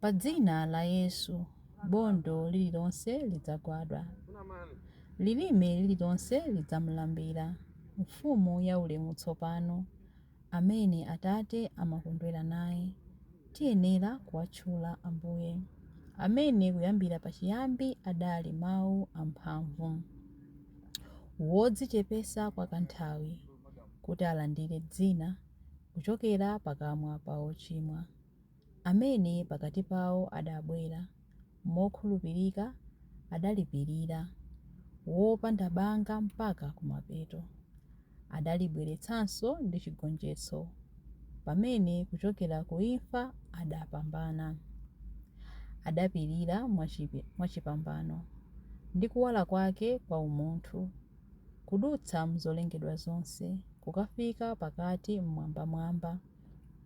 Pa dzina la Yesu, bondo lililonse lidzagwadwa. Lilime lililonse lidzamulambira, Mfumu yaulemu tsopano, amene Atate amakondwera naye. Tiyenera kuwatchula Ambuye, amene kuyambira pachiyambi adali Mawu amphamvu. Wodzichepetsa kwa kanthawi, kuti alandire dzina kuchokera pakamwa pa ochimwa. amene pakati pawo adabwera mokhulupirika adalipirira wopanda banga mpaka kumapeto, adalibweretsanso ndi chigonjetso, pamene kuchokera ku imfa adapambana, adapirira mwachipambano, ndi kuwala kwake kwa umunthu, kudutsa m'zolengedwa zonse, kukafika pakati m'mwambamwamba.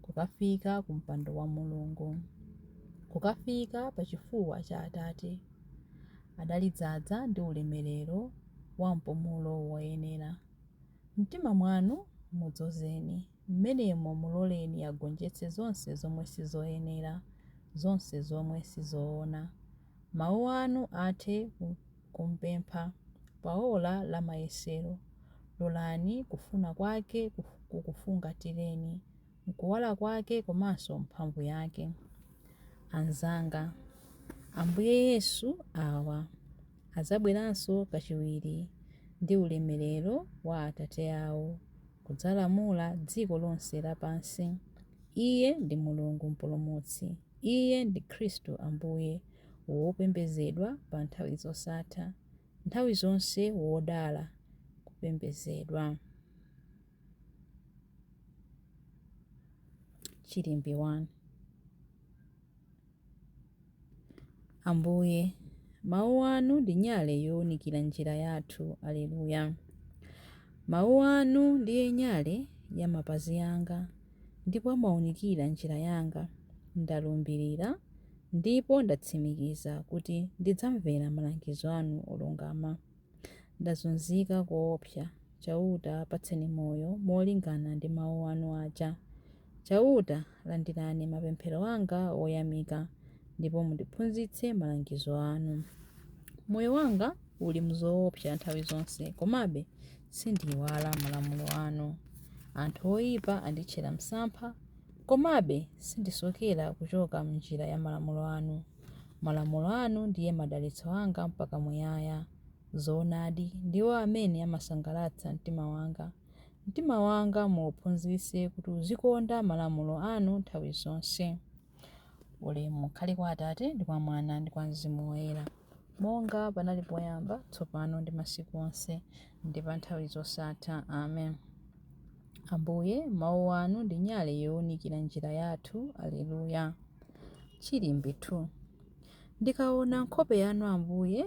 kukafika ku mpando wa Mulungu, kukafika pa chifuwa cha Atate. Adalidzaza ndi ulemerero wa mpumulo woyenera. Mumtima mwanu mudzozeni, mmenemo muloleni agonjetse zonse zomwe sizoyenera, zonse zomwe sizoona. Mawu anu athe kumpempha pa ola la mayesero. Lolani kufuna kwake kukufungatireni m'kuwala kwake komanso mphamvu yake. Anzanga, Ambuye Yesu awa adzabweranso kachiwiri ndi ulemerero wa Atate awo kudzalamula dziko lonse lapansi. Iye ndi Mulungu Mpulumutsi. Iye ndi Khristu Ambuye, wopembedzedwa pa nthawi zosatha, nthawi zonse wodala, kupembedzedwa. Chilimbi 1. Ambuye, Mawu Anu ndi nyale yowunikira njira yathu. Aleluya! Mawu Anu ndiye nyale ya mapazi anga ndipo amaunikira njira yanga. Ndalumbirira ndipo ndatsimikiza kuti ndidzamvera malangizo Anu olungama. Ndazunzika koopsa. Chauta, patseni moyo molingana ndi mawu anu aja. Chauta, landirani mapemphero anga oyamika, ndipo mundiphunzitse malangizo anu. Moyo wanga uli m'zoopsa nthawi zonse, komabe sindiiwala malamulo anu. Anthu oipa anditchera msampha, komabe sindisokera kuchoka m'njira ya malamulo anu. Malamulo anu ndiye madalitso anga mpaka muyaya. Zoonadi, ndiwo amene amasangalatsa mtima wanga. Mtima wanga muuphunzitse kuti uzikonda malamulo anu nthawi zonse. Ulemu ukhale kwa Atate, ndi kwa Mwana, ndi kwa Mzimu Woyera, monga panali poyamba, tsopano, ndi masiku onse. ndi pa nthawi zosatha. Amen. Ambuye, mawu anu ndi nyale yowunikira njira yathu. Aleluya. Chilimbi 2 Ndikaona nkhope yanu Ambuye,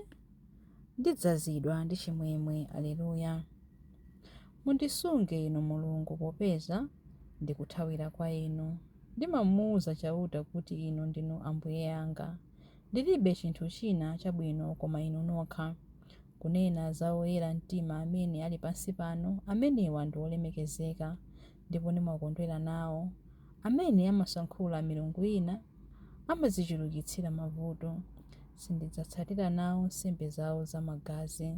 ndidzazidwa ndi chimwemwe. Aleluya. Mundisunge inu Mulungu, popeza ndikuthawira kwa inu. Ndimamuwuza Chauta kuti, Inu ndinu Ambuye anga. Ndilibe chinthu china chabwino koma inu nokha. Kunena za oyera mtima amene ali pansi pano, amenewa ndi olemekezeka, ndipo ndimakondwera nawo. Amene amasankhula milungu ina amadzichulukitsira mavuto. Sindidzatsatira nawo nsembe zawo zamagazi.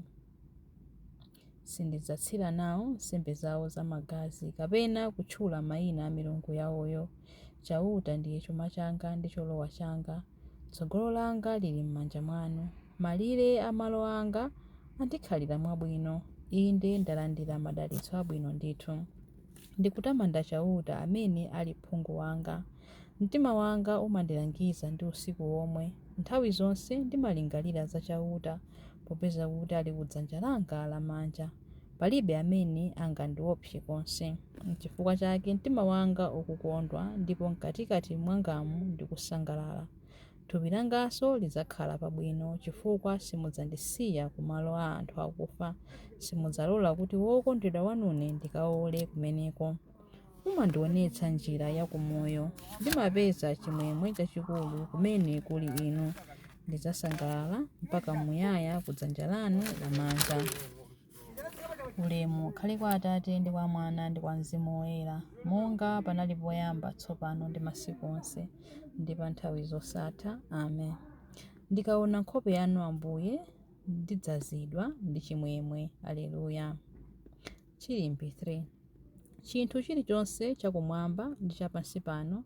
Sindidzatsira nawo nsembe zawo zamagazi, kapena kutchula mayina a milungu yawoyo. Chauta ndiye chuma changa ndi cholowa changa, tsogolo langa lili m'manja mwanu. Malire a malo anga andikhalira mwabwino, inde, ndalandira madalitso abwino ndithu. Ndikutamanda Chauta amene ali phungu wanga. Mtima wanga umandilangiza ndi usiku womwe, nthawi zonse ndimalingalira za Chauta, popeza kuti ali ku dzanja langa lamanja, palibe amene angandiopse konse. Nchifukwa chake mtima wanga ukukondwa, ndipo m'katikati mwangamu ndikusangalala. Thupi langanso lidzakhala pabwino, chifukwa simudzandisiya ku malo a anthu akufa, simudzalola kuti wokondedwa wanune ndikaole kumeneko. mumandionetsa njira ya kumoyo ndimapeza chimwemwe chachikulu kumene kuli inu ndidzasangalala mpaka muyaya ku dzanja lanu lamanja ulemu ukhale kwa atate ndi kwa mwana ndi kwa mzimu woyera monga panali poyamba tsopano ndi masiku onse ndi pa nthawi zosatha amen ndikaona nkhope yanu ambuye ndidzazidwa ndi chimwemwe aleluya Chilimbi 3. Chinthu chilichonse chakumwamba ndi chapansipano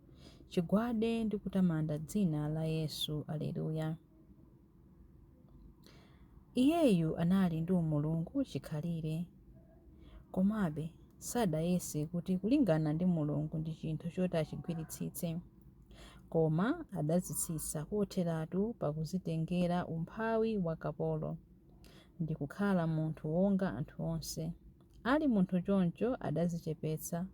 chigwade ndi kutamanda dzina la Yesu. Aleluya. Iyeyu anali ndi umulungu chikhalire. Komabe, sadayese kuti kulingana ndi Mulungu ndi chinthu choti achigwiritsitse. Koma adadzitsitsa kotheratu pakudzitengera umphawi wa kapolo. ndi kukhala munthu wonga anthu onse. Ali munthu choncho adadzichepetsa,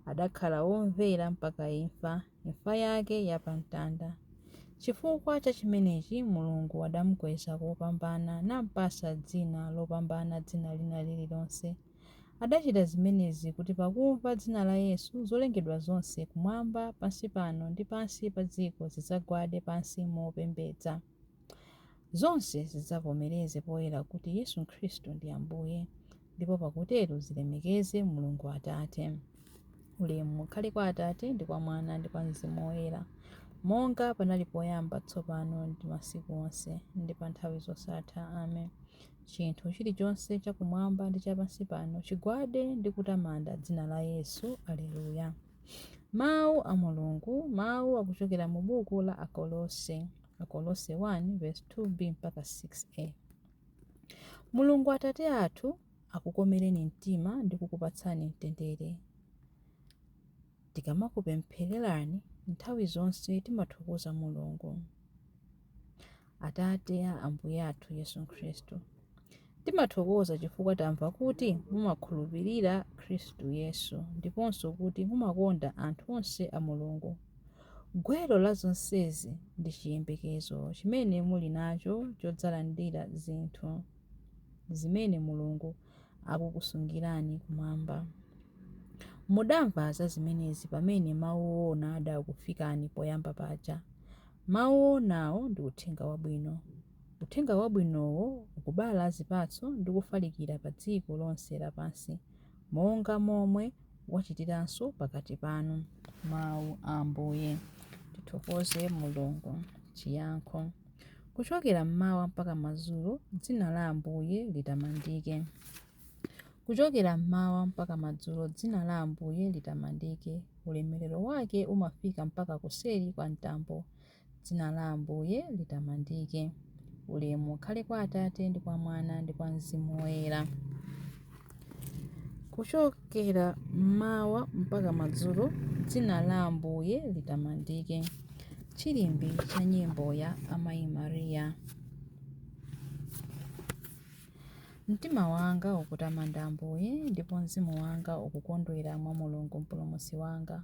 adakhala womvera mpaka imfa, imfa yake ya pa mtanda. Chifukwa cha chimenechi Mulungu adamukweza kopambana nampatsa dzina lopambana dzina lina lililonse. Adachita zimenezi kuti pakumva dzina la Yesu, zolengedwa zonse kumwamba, pansi pano ndi pansi pa dziko zidzagwade pansi mopembedza. Zonse zidzavomereze poyera kuti Yesu Khristu ndi Ambuye, ndipo pakutero zilemekeze Mulungu Atate. Ulemu ukhale kwa Atate ndi kwa Mwana ndi kwa Mzimu Woyera, monga panali poyamba, tsopano ndi masiku onse, ndi pa nthawi zosatha. Amen. Chinthu chilichonse chakumwamba ndi cha pansi pano chigwade ndi kutamanda dzina la Yesu. Aleluya. Mawu a Mulungu, mawu akuchokera mu buku la Akolose, Akolose 1 verse 2b mpaka 6a. Mulungu Atate athu akukomereni mtima ndi kukupatsani mtendere. Tikamakupemphererani nthawi zonse timathokoza Mulungu. Atate a Ambuye athu Yesu Khristu, timathokoza chifukwa tamva kuti mumakhulupirira Khristu Yesu ndiponso kuti mumakonda anthu onse a Mulungu. Gwero la zonsezi ndi chiyembekezo chimene muli nacho chodzalandira zinthu zimene Mulungu akukusungirani kumwamba. Mudamva za zimenezi pamene mawu oona adakufikani poyamba paja. Mawu oonawo ndi uthenga wabwino. Uthenga wabwinowo ukubala zipatso ndi kufalikira pa dziko lonse lapansi, monga momwe wachitiranso pakati panu. Mawu a Ambuye. Tithokoze Mulungu. Chiyankho. Kuchokera mmawa mpaka madzulo, dzina la Ambuye litamandike. Kuchokera mmawa mpaka madzulo, dzina la Ambuye litamandike. Ulemerero wake umafika mpaka kuseri kwa mtambo. Dzina la Ambuye litamandike. Ulemu ukhale kwa Atate ndi kwa Mwana ndi kwa Mzimu Woyera. Kuchokera mmawa mpaka madzulo, dzina la Ambuye litamandike. Chilimbi cha nyimbo ya Amayi Mariya. Mtima wanga ukutamanda Ambuye, ndipo mzimu wanga ukukondwera mwa Mulungu Mpulumutsi wanga.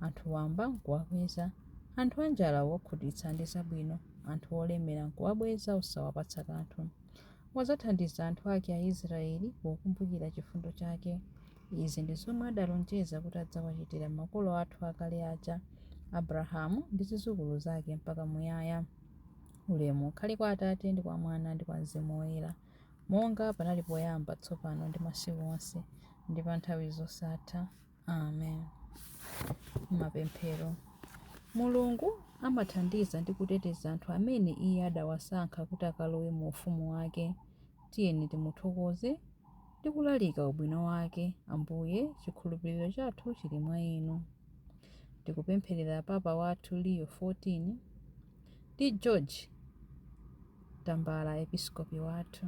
anthu wamba n'kuwakweza, anthu anjala wawakhutitsa ndi zabwino, anthu olemera n'kuwabweza osawapatsa kanthu. Wadzathandiza anthu ake Aisiraeli pokumbukira chifundo chake. Izi ndi zomwe adalonjeza kuti adzawachitira makolo athu akale aja, Abrahamu ndi zidzukulu zake mpaka muyaya. Ulemu ukhale kwa Atate ndi kwa Mwana ndi kwa Mzimu Woyera, monga panali poyamba, tsopano ndi masiku onse, ndi pa nthawi zosatha. amen mapemphero mulungu amathandiza ndi kuteteza anthu amene iye adawasankha kuti akalowe mu ufumu wake tiyeni timuthokoze ndi kulalika ubwino wake ambuye chikhulupiriro chathu chili mwa inu tikupempherera papa wathu leo 14 ndi george tambala episkopi wathu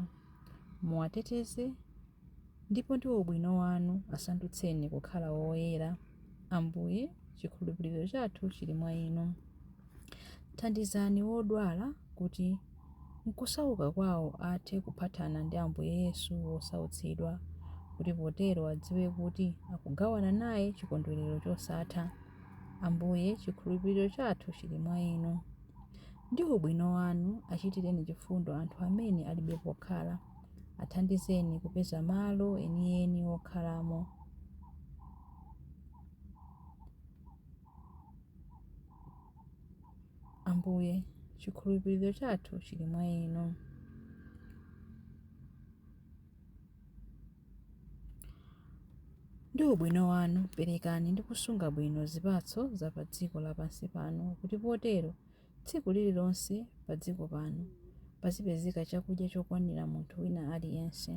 muwateteze Ndipo ndi ubwino Wanu, asandutseni kukhala oyera, Ambuye, chikhulupiriro chathu chiri mwa Inu. Thandizani wodwala kuti m'kusauka kwao athe kuphathana ndi Ambuye Yesu wosautsidwa, kuti potero adziwe kuti akugawana naye chikondwerero chosatha, Ambuye, chikhulupiriro chathu chiri mwa Inu. Ndi ubwino Wanu, achitireni chifundo anthu amene alibe pokhala. Athandizeni kupeza malo enieni okhalamo. Ambuye, chikhulupiriro chathu chili mwa Inu. Ndi ubwino wanu, perekani ndi kusunga bwino zipatso za pa dziko lapansi pano, kuti potero Tsiku lililonse padziko pano pazipezeka chakudya chokwanira munthu wina aliyense.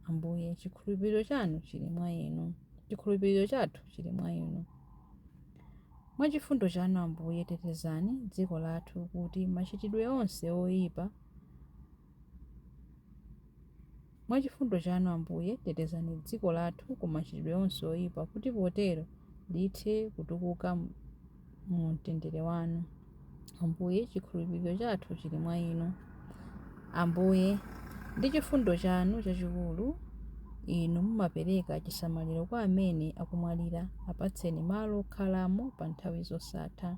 Ambuye, chikhulupiriro chanu chili mwa Inu. Chikhulupiriro chathu chili mwa Inu. Mwa chifundo chanu, Ambuye, tetezani dziko lathu kuti machitidwe onse oipa Mwa chifundo chanu, Ambuye, tetezani dziko lathu ku machitidwe onse oipa, kuti potero lithe kutukuka mu mtendere wanu. Ambuye, chikhulupiriro chathu chili mwa inu. Ambuye, ndi chifundo chanu chachikulu, Inu mumapereka chisamaliro kwa amene akumwalira, apatseni malo okhalamo pa nthawi zosatha.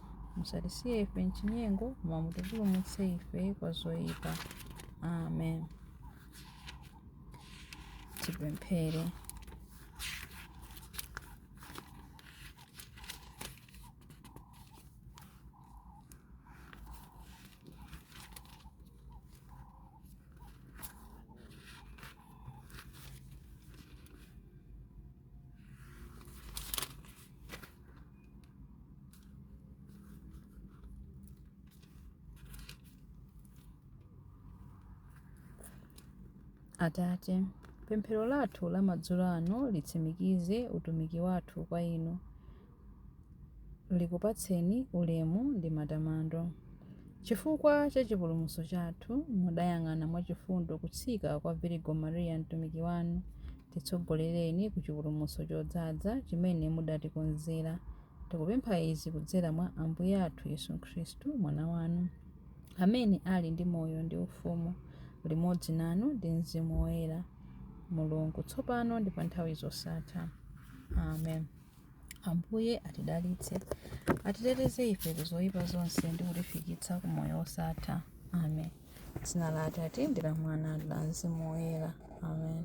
musatisiye ife m'chinyengo koma mutipulumutse ife kwa zoyipa amen tipemphere Atate, pemphero lathu la madzulo ano litsimikize utumiki wathu kwa Inu, likupatseni ulemu ndi matamando. Chifukwa cha chipulumutso chathu, mudayang'ana mwachifundo kutsika kwa Virigo Maria mtumiki wanu, Titsogolereni ku chipulumutso chodzaza chimene mudatikonzera. Tikupempha izi kudzera mwa Ambuye athu Yesu Khristu, Mwana wanu, amene ali ndi moyo ndi ufumu limodzi nanu ndi Mzimu Woyera, Mulungu, tsopano ndi pa nthawi zosatha. Amen. Ambuye atidalitse, atiteteze ife ku zoyipa zonse ndi kutifikitsa ku moyo wosatha. Amen. Dzina la Atate ndi la Mwana ndi la Mzimu Woyera. Amen.